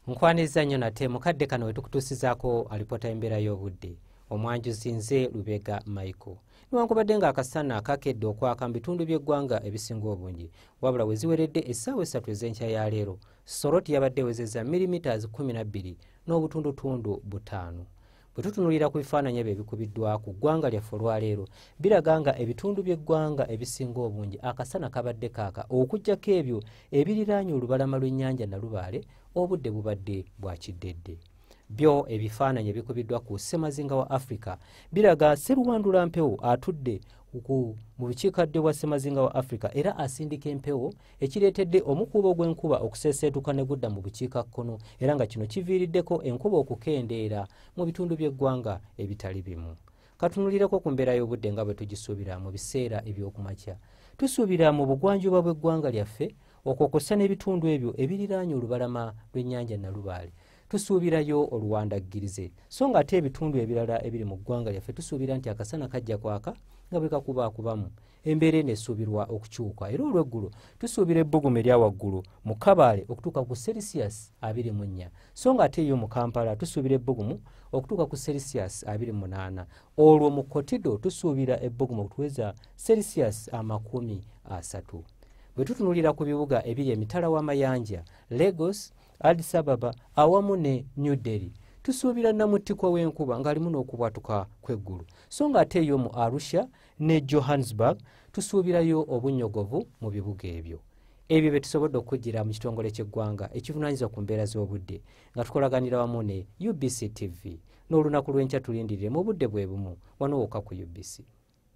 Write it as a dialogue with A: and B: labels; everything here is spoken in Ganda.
A: nkwaniriza nnyo nate mukadde kano wetukutuusizaako alipoota y'embeera y'obudde omwanjuzi nze lubega michael newankubadde nga akasana kakedde okwaka mu bitundu by'eggwanga ebisinga obungi wabula we ziweredde essaawa essatu ez'enkya ya leero soroti yabadde ewezeza milimita 12 n'obutundutundu butaano bwe tutunulira ku bifaananyi ebyo ebikubiddwa ku ggwanga lyaffe olwaleero biraga nga ebitundu by'eggwanga ebisinga obungi akasana kabadde kaaka okugyako ebyo ebiriraanye olubalama lw'ennyanja nalubaale obudde bubadde bwa kiddedde byo ebifaananyi ebikubiddwa ku ssemazinga wa afirika biraga seruwandula mpewo atudde mu bukiikaddyo bwa ssemazinga wa afirika era asindika empewo ekireetedde omukuubo gw'enkuba okuseeseetuka ne gudda mu bukiika kkono era nga kino kiviiriddeko enkuba okukendeera mu bitundu by'eggwanga ebitali bimu katunulireko ku mbeera y'obudde nga bwe tugisuubira mu biseera eby'okumakya tusuubira mu bugwanjuba bw'eggwanga lyaffe okwo kwossa n'ebitundu ebyo ebiriraanye olubalama lw'ennyanja nalubaale tusuubirayo oluwandaggirize so nga ate ebitundu ebirala ebiri mu ggwanga lyaffe tusuubira nti akasana kajja kwaka nga bwe kakubaakubamu embeera eno esuubirwa okukyuka era olweggulo tusuubira ebbugumu erya waggulu mu kabaale okutuuka ku celsius 24 so nga ate eyo mu kampala tusuubira ebbugumu okutuuka ku celsius 28 olwo mu kotido tusuubira ebbugumu okutuweza celsius amakumi asatu bwe tutunulira ku bibuga ebiri emitala w'amayanja lagos adisababa awamu ne new delhi tusuubira namuttikwa w'enkuba ng'alimu n'okubwatuka kw'eggulu so nga ate eyo mu arusha ne johannesburg tusuubirayo obunyogovu mu bibuga ebyo ebyo bye tusobodde okukugira mu kitongole ky'eggwanga ekivunaanyizibwa ku mbeera z'obudde nga tukolaganira wamu ne ubc tv n'olunaku lw'enkya tulindirire mu budde bwe bumu wano wokka ku ubc